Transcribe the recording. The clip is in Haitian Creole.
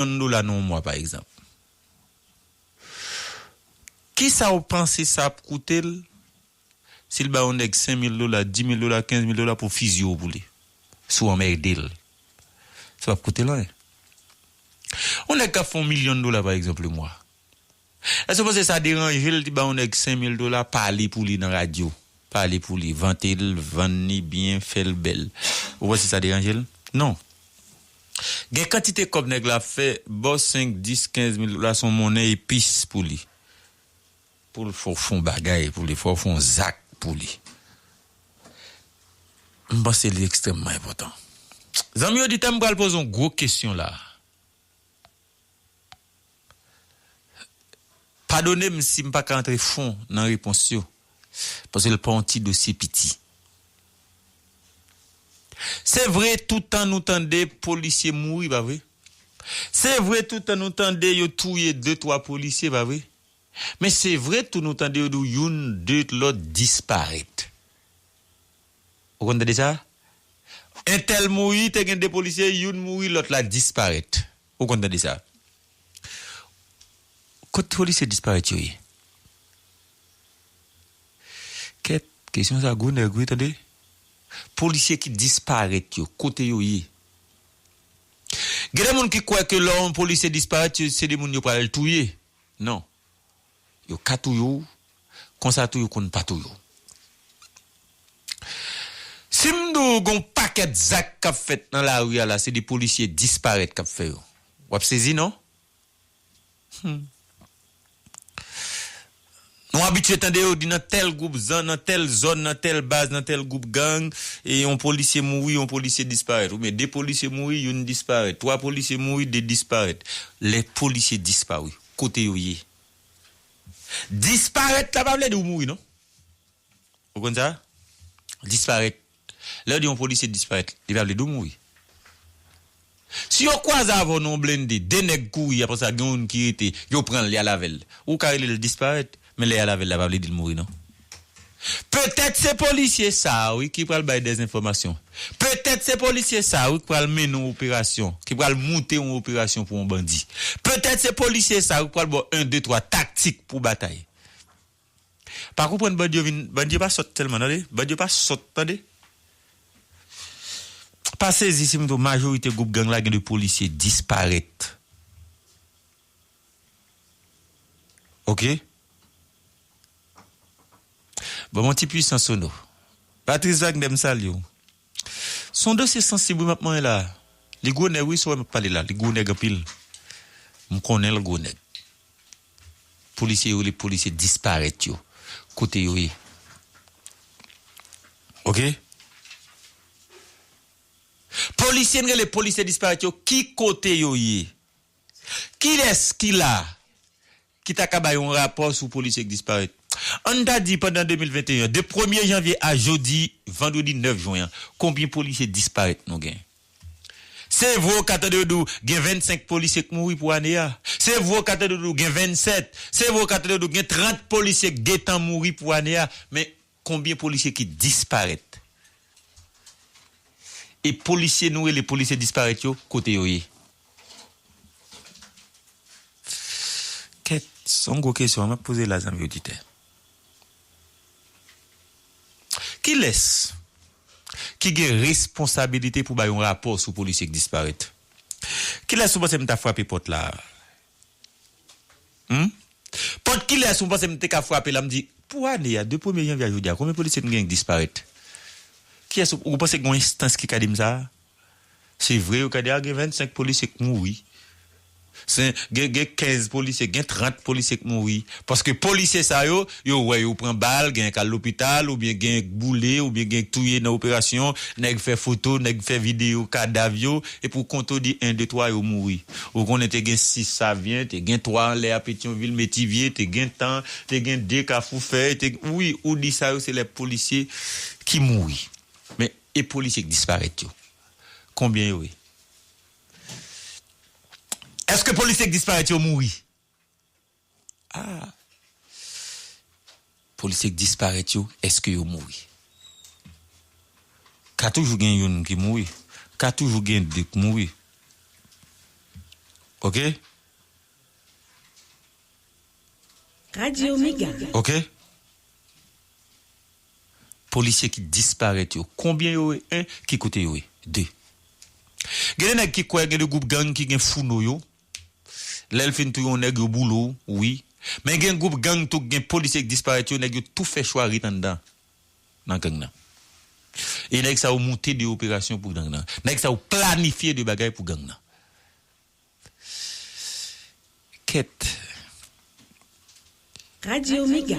yon dola nan yon mwa pa egzanp, kisa ou panse sa ap koute l si l bay yon nèg 5 mil dola, 10 mil dola, 15 mil dola pou fizye w pou li, si w anmède l? Sa p ap koute l anyen. Yon nèg k ap fè yon milyon dola pa egzanp lemwa. Èske w panse sa deranje l di ba yon nèg 5000 dola pale pou li nan radyo, pale pou li, vante l, vann li byen, fè l bèl? Ou panse sa deranje l? Non. Gen kantite kòb nèg la ap fè, ba w 5, 10, 15 mil dola se yon monnen epis pou li. Pou l fè w fè yon bagay pou li, fè w fè yon zak pou li. M panse li ekstrèmman enpòtan. Zanmi oditè m pral poze yon gwo kesyon la a. Padone m si m pa ka antre fon nan repons yo, paske l pa yon ti dosye piti. Se vre tout tan nou tande polisye mouri, pa vre? Se vre tout tan nou tande yo touye de twa polisye, pa vre? Men se vre tou nou tande yo di w youn, de lòt disparèt. Ou konn tande sa? Entèl mouri, te gen 2 polisye, youn mouri, lòt la disparèt. Ou konn tande sa? Kot polisye disparèt yo ye? Kèt, kesyon sa gou nèg wi tande. Polisye ki disparèt yo, kote yo ye? Gen de moun ki kwè ke lò yon polisye disparèt, se de moun yo pral touye. Non. Yo ka touye w, konsa tou yo konn pa touye w. Si m di w gen yon pakèt zak k ap fèt nan lari a la, se de polisye disparèt k ap fè yo. W ap sezi non. Hum. Nou abitye tande yo di nan tèl gwoup zòn, nan tèl zòn, nan tèl baz, nan tèl gwoup gang, e yon polisye mouri, yon polisye disparèt. Oubyen de polisye mouri, youn disparèt. Twa polisye mouri, de disparèt. Lè polisye disparu, kote yo ye. Disparèt la pa vle di ou mouri non. Ou konn sa? Disparèt. Lè yo di yon polisye disparèt, li pa vle di ou mouri. Si yo kwaze avè w nan yon blende, 2 nèg kouri apre sa gen youn ki rete, yo pran l, y al avè l, ou ka rele l disparèt. Men lè ya lavel la pa vle dil mouri non. Petèt se polisye sa a wi ki pral bay dè enfòmasyon. Petèt se polisye sa a wi ki pral mennen yon operasyon, ki pral moute yon operasyon pou yon bandi. Petèt se polisye sa a wi ki pral ba w 1, 2, 3 taktik pou batay. Pa konprann bandi yo vin, bandi yo pa sòt sèlman tande, bandi yo pa sòt tande. Pa sezi si m di w majorite gwoup gang la gen de polisye disparèt. Ok. Ban mwen yon ti pwisan sono. Patrice Wagner m salye w. Se yon dosye sansib wi m ap manyen la a. Li gwo nèg wi sa w wè m ap pale la a. Li gwo nèg anpil. M konnen l gwo nèg. Polisye yo rele polisye disparèt yo. Kote yo ye? Ok. Polisye n rele polisye disparèt yo ki kote yo ye? Kilès ki la a ki ta ka bay yon rapò sou polisye ki disparèt? An n ta di pandan 2021 an, de premye janvye a jodi vandredi 9 jwen an, konbyen polisye disparèt nou gen? Se vre w ka tande yo di w gen 25 polisye k mouri pou ane a, se vre w ka tande yo di w gen 27, se vre w ka tande yo di w gen 30 polisye k gentan mouri pou ane a, men, Konbyen polisye ki disparèt? E polisye nou rele polisye disparèt yo kote yo ye? Kèt, se yon gwo kesyon map poze la zanmi oditè. Kilès ki gen responsabilite pou bay yon rapò sou polisye ki disparèt? Kilès ou panse m ta frape pòt la? Humm pòt kilès ou panse m te ka frape la m di pou ane a de premye janvye a jodi a konbyen polisye m gen ki disparèt kiyès ou ou panse gon enstans ki ka di m sa se vre yo ka di a gen 25 polisye k mouri se gen gen 15 polisye gen 30 polisye k mouri paske polisye sa yo Yo wè yo pran bal, genyen k al lopital oubyen genyen k boule oubyen genyen k touye nan operasyon, nèg fè foto, nèg fè videyo kadav yo e pou kont ou di 1 2 3 yo mouri. Ou konnen te gen 6 Savyen, te gen 3 anlè a Petyonvil, Metivye, te gen tan, te gen 2 Kafou Fèy, te gen wi ou di sa yo se lè polisye ki mouri. Men e polisye k disparèt yo? Konbyen yo ye? Èske polisye k disparèt yo mouri? Ah! Polisye k disparèt yo eske yo mouri? Ka toujou gen youn ki mouri, ka toujou gen 2 k mouri. Ok? Radio mega. Ok? Polisye ki disparèt yo konbyen yo ye 1 ki kote yo ye 2? Gen de nèg ki kwè gen de gwoup gang ki gen founo yo. lèl fin touye yon nèg yo boule w wi men gen group gang tou k gen polisye k disparèt yo nèg yo tou fè chwa ret anndan nan gang nan e nèg sa yo moute de operasyon pou gang nan nèg sa yo planifye de bagay pou gang nan kèt. Radio Mega.